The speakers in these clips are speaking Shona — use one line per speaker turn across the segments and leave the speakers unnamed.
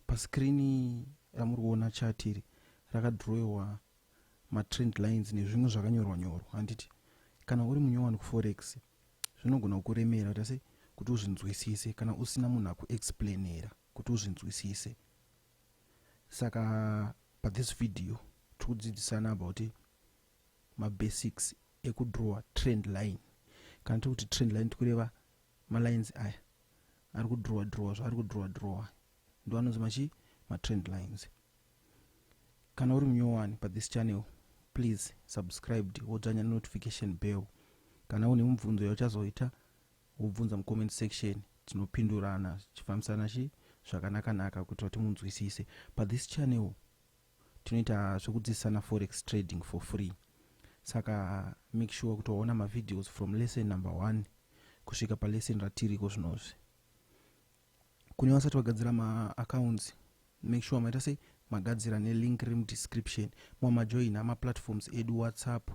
Paskirini ramuri kuona chati iri rakadhirowewa matrend lines nezvimwe zvakanyorwa nyorwa handiti kana uri munyowani kuforex zvinogona kukuremera kuita sei kuti uzvinzwisise kana usina munhu akuexplainera kuti uzvinzwisise saka pathis video tiri kudzidzisana about mabasics ekudrawer trend line kana tiri kuti trend line tikureva malines aya ari kudrowa drowa zvaari kudrowa drowa ndo anonzi machi matrend lines kana uri munyowani pathis channel please subscribed wodzvanya nenotification bell kana une mubvunzo yauchazoita wobvunza mucomment section tinopindurana tichifambisana chi zvakanakanaka kuitira kuti munzwisise pathis channel tinoita zvekudzidzisana forex trading for free saka make sure kuti waona mavideos from lesson number one kusvika palesson ratiriko zvinozvi kune vasati vagadzira maaccounts make sure maita sei magadzira nelink riri mudescription mwa majoina maplatforms edu whatsapp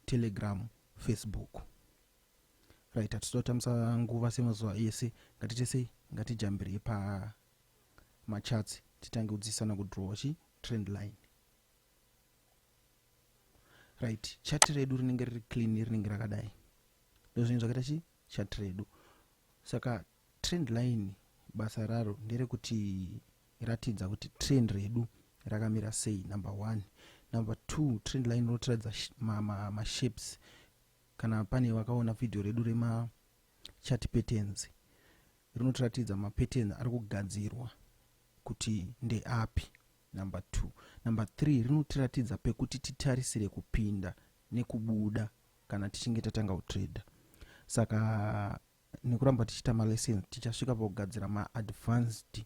telegram facebook right hatitoda kutambisa nguva semazuva ese ngatite sei ngatijambirei pa macharts titange kudzidzisana kudrawa chi trend line right chat redu rinenge riri clean rinenge rakadai ndozvinhu zvakaita chi chat redu saka trend line basa raro nderekuti ratidza kuti trend redu rakamira sei number one number two trend line rotiradza mashapes ma, ma kana pane vakaona vhidhiyo redu rema Chart patterns rinotiratidza mapatterns ari kugadzirwa kuti ndeapi number two number three rinotiratidza pekuti titarisire kupinda nekubuda kana tichinge tatanga kutrader saka nekuramba tichiita malessons tichasvika pakugadzira maadvanced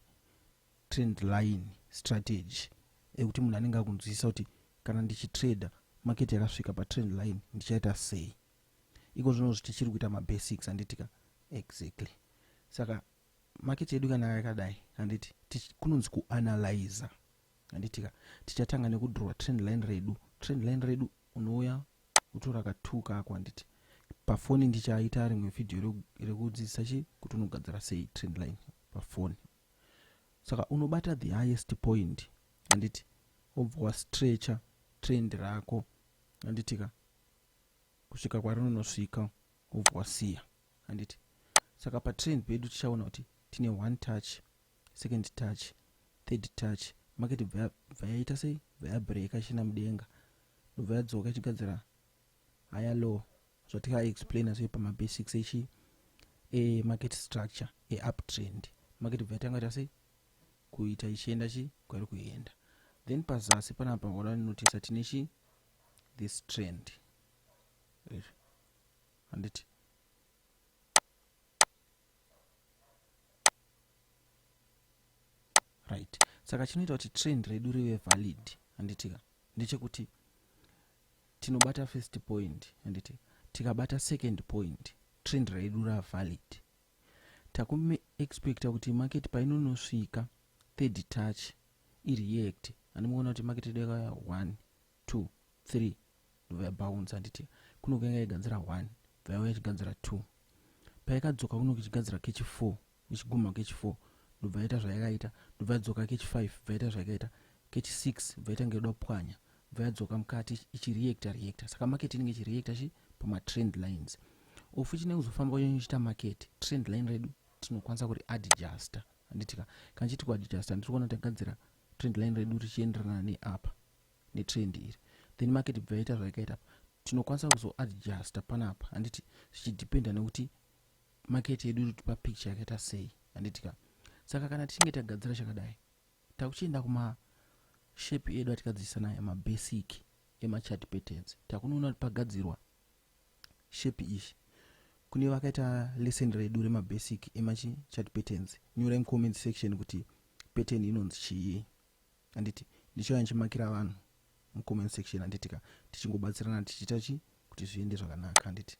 trend line strategy ekuti munhu anenge akunzwisisa kuti kana ndichitrader market yakasvika patrend line ndichaita sei iko zvino tichiri kuita mabasics handiti ka exactly saka maketi yedu kana yakadai handiti kunonzi kuanalyza handiti ka tichatanga nekudrowa trend line redu trend line redu unouya utora katuka ako handiti pafoni ndichaita rimwe vhidhiyo rekudzidzisa chi kuti unogadzira sei trend line pafoni saka unobata the highest point handiti wobva wastretcher trend rako handiti ka kusvika kwarinonosvika wobva wasiya handiti saka patrend pedu tichaona kuti tine one touch second touch third touch market bva yaita sei bva yabreka ichienda mudenga ndobva yadzoka ichigadzira higher low zvatikaexplaina zve pamabasics echi emarket structure euptrend market bva yatanga ita sei kuita ichienda chi kwairi kuenda then pazasi panapa wada notisa tine chi this trend handiti right saka chinoita kuti trend redu rive valid handitika ndechekuti tinobata first point handiti tikabata second point trend redu ravalid Takume expecta kuti market painonosvika third touch ireact andimuona kuti market yedu yakauya one two three ndobva yabounce handiti kunoko yanga yaiganzira one bva yauya ichiganzira two payakadzoka kunoko ichigadzira kechi four ichiguma kechi four ndobva yaita zvayakaita ndobva yadzoka kechi five bva yaita zvayakaita kechi six bva yaita ngeyoda kupwanya bva yadzoka mukati ichireacta reacta saka market inenge ichireacta chi pamatrend lines ofu chinenge kuzofamba uyo ichiita market trend line redu tinokwanisa kuri adjuster handitika kana chiti kuadjuster ndiri kuona tagadzira trend line redu richienderana neapa netrend iri then market bva yaita zvayakaita apa tinokwanisa kuzoadjuster panapa handiti zvichidependa nekuti market yedu irikuti papicture yakaita sei handitika saka kana tichinge tagadzira chakadai Takuchienda kuma shape edu atikadzidzisa nayo mabasic emachart patterns takunoona kuti pagadzirwa shape ishi kune vakaita lesson redu remabasic emachart patterns nyorai mucomment section kuti pattern inonzi chii handiti ndichauya ndichimakira vanhu mucomment section handitika tichingobatsirana tichiita chii kuti zviende zvakanaka handiti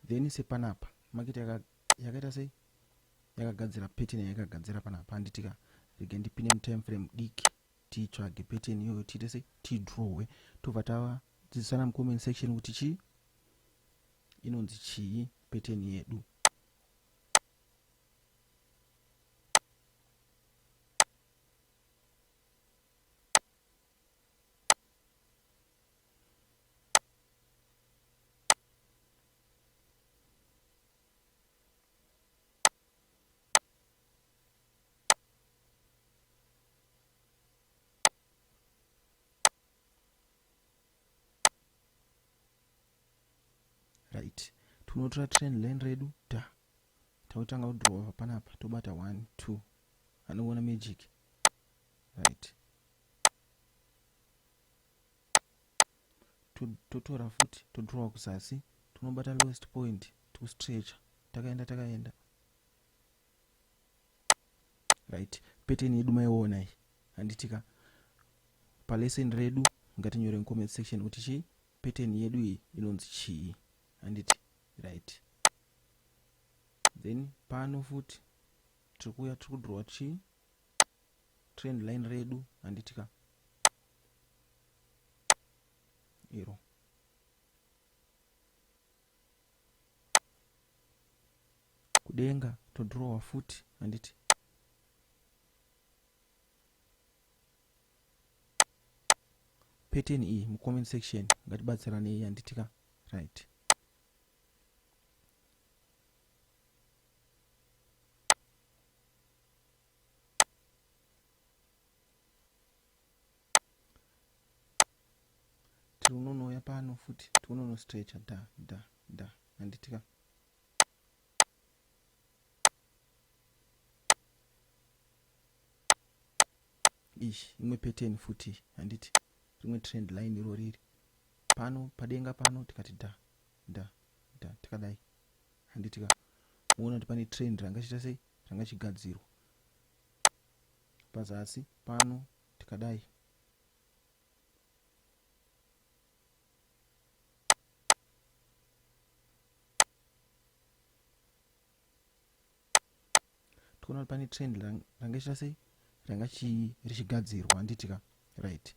then sepanapa makita yakaita sei yakagadzira pattern yayakagadzira panapa handitika rege ndipine mutime frame diki titsvage pattern iyoyo tiite sei tidrowe tobva tava dzidzisana mucomment section kuti chii inonzi chii pattern yedu right tinotora train line redu ta tautanga kudrova panapa tobata one two anoona magic right totora futi todrowa kuzasi tinobata lowest point tikustretcha takaenda takaenda right peteni yedu maiona iyi handitika palesson redu ngatinyore mucomment section kuti chii peteni yedu iyi inonzi chii handiti right then pano futi tiri kuuya tiri kudrowa chii trend line redu handitika iro kudenga todrowa futi handiti pattern iyi mucomment section ngatibatsiranei handitika right tiri unonouya pano futi tiunonostrecha da da da handitika ishi imwe pattern futi handiti rimwe trend line iro riri pano padenga pano tikati da da da tikadai handitika muona kuti pane trend ranga chita sei changa chigadzirwa pazasi pano tikadai tikuona pane trend ranga chita sei ranga richigadzirwa handitika right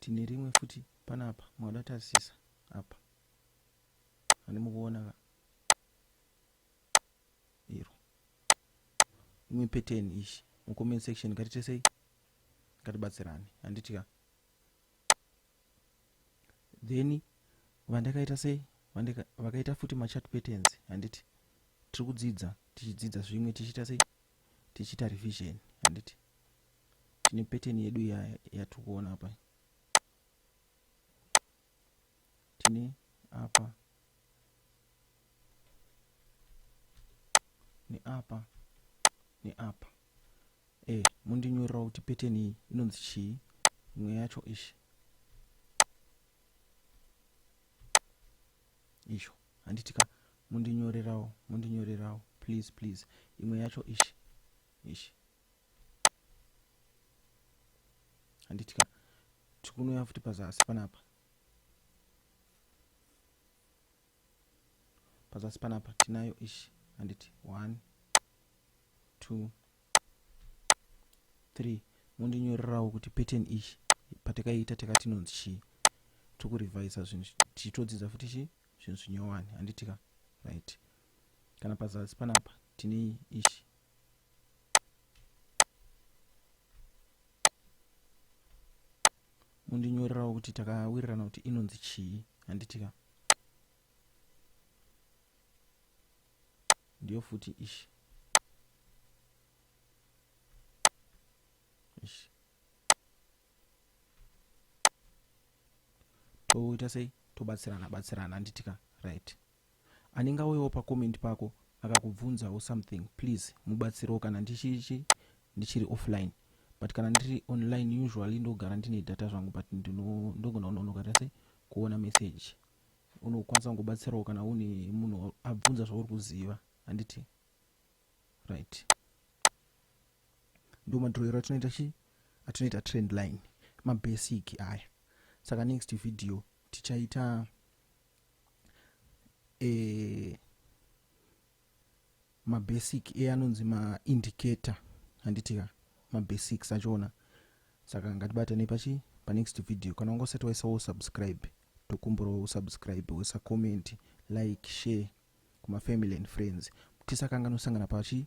tine rimwe futi panapa mauda tarisisa apa ani mukuona ka iro imwe pattern ishi mucomment section ngatitesei ngatibatsirane handiti ka then vandakaita sei vakaita futi machat patterns handiti tiri kudzidza tichidzidza zvimwe tichiita sei tichiita revision handiti tine pattern yedu yatiri kuona apa tine apa neapa neapa e eh, mundinyorerawo kuti pattern iyi inonzi chii imwe yacho ishi isho handitika mundinyorerawo mundinyorerawo please please imwe yacho ishi ishi handiti ka tikunouya futi pazasi panapa pazasi panapa tinayo ishi handiti one two three mondinyorerawo kuti pattern ishi patakaita takatinonzi chii tokurevisa zvinhu tichitodzidza futi chii zvinhu zvinyowani handitika right kana pazasi panapa tine ishi mundinyorerawo kuti takawirirana kuti inonzi chii handitika ndiyo futi ishi ishi toita sei tobatsirana batsirana handitika right Anenge auyawo pa comment pako akakubvunzawo something please mubatsirewo kana ndichichi ndichiri offline but kana ndiri online usually ndogara ndine data zvangu but ndogona kunonoka tase kuona message unokwanisa kungobatsirawo kana une munhu abvunza zvauri kuziva handiti right ndo madhurero atinoita chi atinoita trend line mabasic aya saka next video tichaita e, mabasic e anonzi maindicator handiti ka mabasics achona saka ngatibatanei pachi panext video kana wanga usati waisawo subscribe tokumburawo usubscribe wesa comment like share kumafamily and friends tisakanganisangana pachi